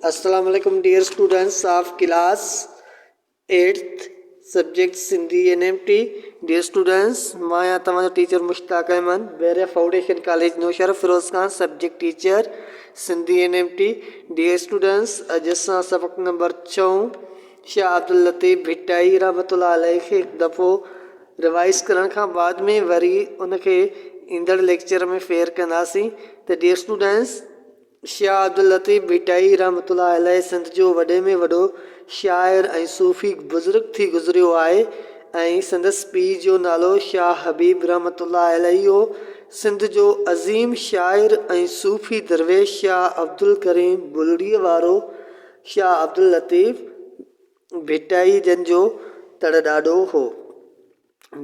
اسلام عليڪم dear students of class eighth subject Sindhi NMT dear students مان آهيان توهان جو teacher Mushtaq Ahmed Bahria foundation college Naushahro Feroz Khan subject teacher Sindhi NMT dear students اڄ اسان سبق نمبر ڇهون شاهه عبداللطيف ڀٽائي رحمت الله عليه کي هڪ دفعو روايز ڪرڻ کان بعد ۾ وري ان کي ايندڙ ليڪچر ۾ فيئر ڪنداسين ته ڊيئر اسٽوڊنٽس شاهه عبداللطيف ڀٽائي رحمة الله عليه سنڌ جو وڏي ۾ وڏو شاعر ۽ صوفي بزرگ ٿي گذريو آهي ۽ سندس پيء جو نالو شاهه حبيب رحمة الله عليه هو. سنڌ جو عظيم شاعر ۽ صوفي درويش شاهه عبدالڪريم بلڙيء وارو شاهه عبداللطيف ڀٽائي جن جو تڙ ڏاڏو هو.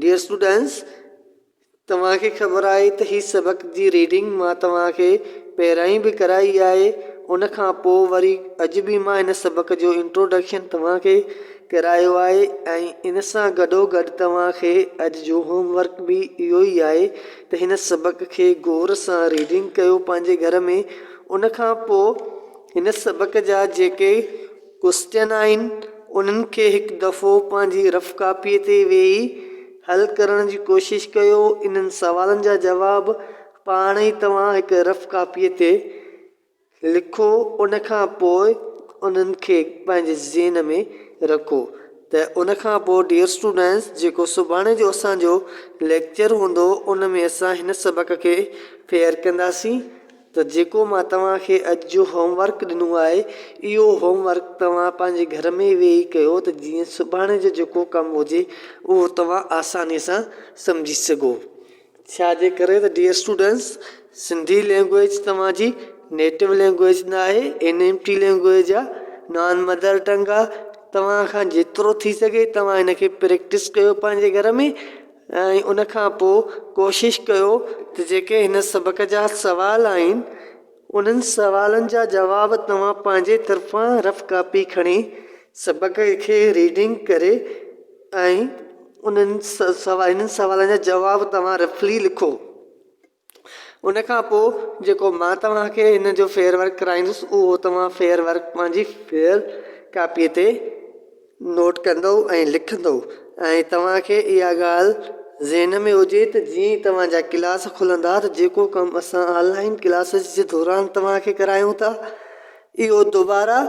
Dear Students، توهان کي خبر آهي ته هي سبق جي ريڊنگ مان توهان کي پهريائين به ڪرائي آهي ان کان پوء وري اڄ به مان هن سبق جو Introduction توهان کي ڪرايو آهي ۽ ان سان گڏو گڏ توهان کي اڄ جو Home Work به اهو ئي آهي ته هن سبق کي غور سان ريڊنگ ڪيو پنهنجي گهر ۾ ان کان پوء هن سبق جا جيڪي ڪسٽينائن انهن کي هڪ دفعو پنهنجي رف ڪاپيء تي ويهي حل ڪرڻ جي ڪوشش ڪيو. انهن سوالن جا جواب پاڻ ئي توهان هڪ رف ڪاپيء تي لکو. ان کان پوء انهن کي پنهنجي ذهن ۾ رکو ته ان کان پوء Dear Students جيڪو سڀاڻي جو اسان جو ليڪچر هوندو ان ۾ اسان هن سبق کي فيئر ڪنداسين. ته جيڪو مان توهان کي اڄ جو هوم ورڪ ڏنو آهي اهو هوم ورڪ توهان پنهنجي گهر ۾ ويهي ڪيو ته جيئن سڀاڻي جو جيڪو ڪم هجي اهو توهان آساني سان سمجهي سگهو. ڇا جي ڪري ته ڊيئر اسٽوڊنٽس سنڌي لينگويج توهان جي نيٽو لينگويج نه آهي اين ايم ٽي لينگويج آهي نان مدر ٽنگ آهي توهان کان جيترو ٿي سگهي توهان ان کي پريڪٽس ڪيو پنهنجي گهر ۾ ۽ ان کان پوء ڪوشش ڪيو ته جيڪي هن سبق جا سوال آهن انهن سوالن جا جواب توهان پنهنجي طرفان رف ڪاپي کڻي سبق کي ريڊنگ ڪري ۽ انهن سوالن جا جواب توهان رفلي لکو. ان کان پوء جيڪو مان توهان کي ان جو فير ورڪ ڪرائيندس اهو توهان فير ورڪ پنهنجي فير ڪاپيء تي نوٽ ڪندؤ ۽ لکندؤ ۽ توهان کي اها ڳالهه ذهن ۾ هجي ته جيئن ئي توهان جا ڪلاس کلندا ته جيڪو ڪم اسان آن لائين ڪلاسز جي دوران توهان کي ڪرايون ٿا اهو دوباره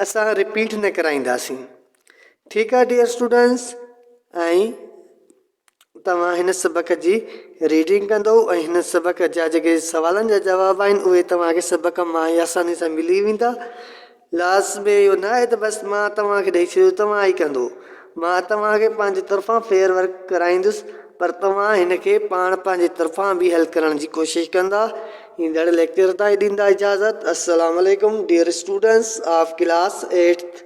اسان رپيٽ نه ڪرائينداسين ٺيڪ آهي ڊيئر اسٽوڊنٽس ۽ توهان هن سبق جي ريڊنگ ڪندو ۽ هن سبق جا جيڪي سوالن جا جواب آهن اهي توهان کي سبق مان ئي آساني سان ملي ويندا لاس ۾ اهو نه آهي ته بس مان توهان کي ڏئي ڇڏيو توهان ئي ڪندو مان توهان کي پنهنجي طرفان فيئر ورڪ ڪرائيندس پر توهان هن کي پاڻ پنهنجي طرفان به حل ڪرڻ جي ڪوشش ڪندا ايندڙ ليڪچر تائين ڏيندا اجازت السلام عليڪم dear students of class eighth